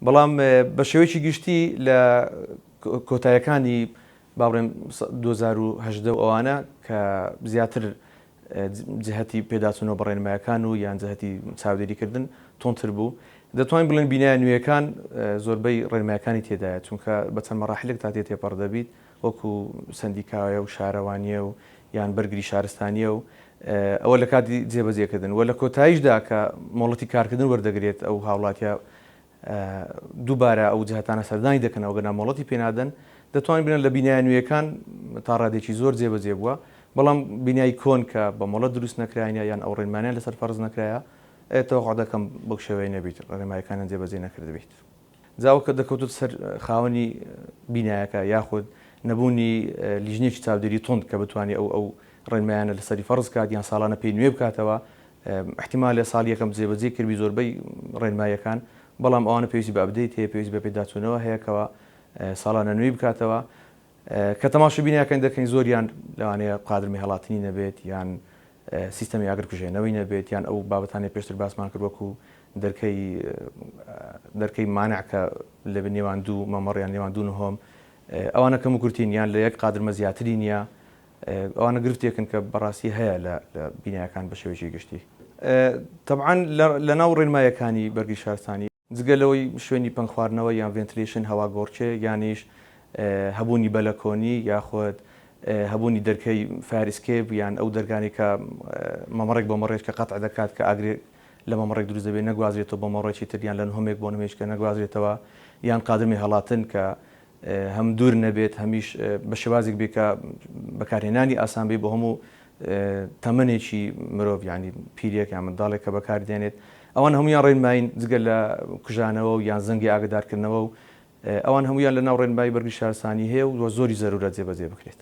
بەڵام بە شێوەیەکی گشتی لە کۆتایەکانی با بڵێم دوو هەزار و هەژدە و ئەوانە کە زیاتر جهتی پێداچوونەوە بە ڕێنمایەکان و یان جهتی چاودێریکردن تۆنتر بوو دەتوانین بڵێن بینایە نوێیەکان زۆربەی ڕێنمایەکانی تێدایە چونکە بە چەند مەراحلێک تا تێ تێپەڕ دەبیت وەکو سەندیکایە و شارەوانیە و یان بەرگری شارستانیە و ئەوە لە کاتی جێبەجێ کردن وە لە کۆتایشدا کە مۆڵەتی کارکردن وەردەگرێت ئەو هاوڵاتیە دووبارە ئەو جهتانە سەردانی دەکەن ئەگەرنا مۆڵەتی پێ نادەن دەتوانین بڵێن لە بینایە نوێیەکان تا ڕادێکی زۆر جێبەجێ بووە بەڵام بینای کۆن کە بە مۆڵەت دروست نەکراینە یان ئەو ڕێنمانیان لەسەر فەرز نەکرایە تەوقع دەکەم بەو شێوەیە نەبیت ڕێنمایەکانیان جێبەجێ نەکردبیت. جا ئەو کە دەکەوتە سەر خاوەنی بینایەکە یاخود نەبوونی لیژنەیەکی چاودێری توند کە بتوانێ ئەو ئەو ڕێنمایانە لەسەری فەرز کات یان ساڵانە پێی نوێ بکاتەوە احتیمالە ساڵ یەکەم جێبەجێی کردبی زۆربەی ڕێنماییەکان بەڵام ئەوانە پێویستی بە ئەپدەیت هەیە پێویستی بە پێداچوونەوە هەیە کەوا ساڵانە نوێی بکاتەوە کە تەماشە بینایەکانی دەکەین زۆریان لەوانەیە قادر مێهڵاتنی نەبێت یان سیستەمی ئاگرکوژێنەوەی نەبێت یان ئەو بابەتانەی پێشتر باسمان کرد وەکو دەرکەی دەرکەی مانع کە لە نێوان دوو مەمەڕ یان نێوان دوو نهۆم ئەوانە کەم و کورتین یان لە یەک قادرمە زیاتری نییە ئەوانە گرفتێکن کە بەڕاستی هەیە لە بینایەکان بە شێوەیەکی گشتی تەبعەن لەناو ڕێنمایەکانی بەرگری شارستانی جگە لەوەی شوێنی پەنگ خواردنەوە یان ڤێنتلیشن، هەواگۆڕکێ، یانیش هەبوونی بەلەکۆنی یاخود هەبوونی دەرکەی فایەر ئیسکێپ یان ئەو دەرکانەی کە مەمەڕێک بۆ مەڕێک کە قەتع دەکات کە ئاگرێک لە مەمەڕێک دروست دەبێت نەگوازرێتەوە بۆ مەڕێکی تر یان لە نهۆمێک بۆ نهۆمێکی کە نەگوازرێتەوە یان قادرمەی هەڵاتن کە هەم دوور نەبێت هەمیش بە شێوازێک بێت کە بەکارهێنانی ئاسان بێت بۆ هەموو تەمەنێکی مرۆڤ یانی پیرێک یان منداڵێک کە بەکار دێنێت ئەوان هەمویان ڕێنمایین جگە لە کوژانەوە و یان زەنگی ئاگدارکردنەوە و ئەوان هەمویان لە ناو ڕێنمایی بەرگری شارستانی هەیە و وە زۆری زەرورە جێبەجێ بکرێت.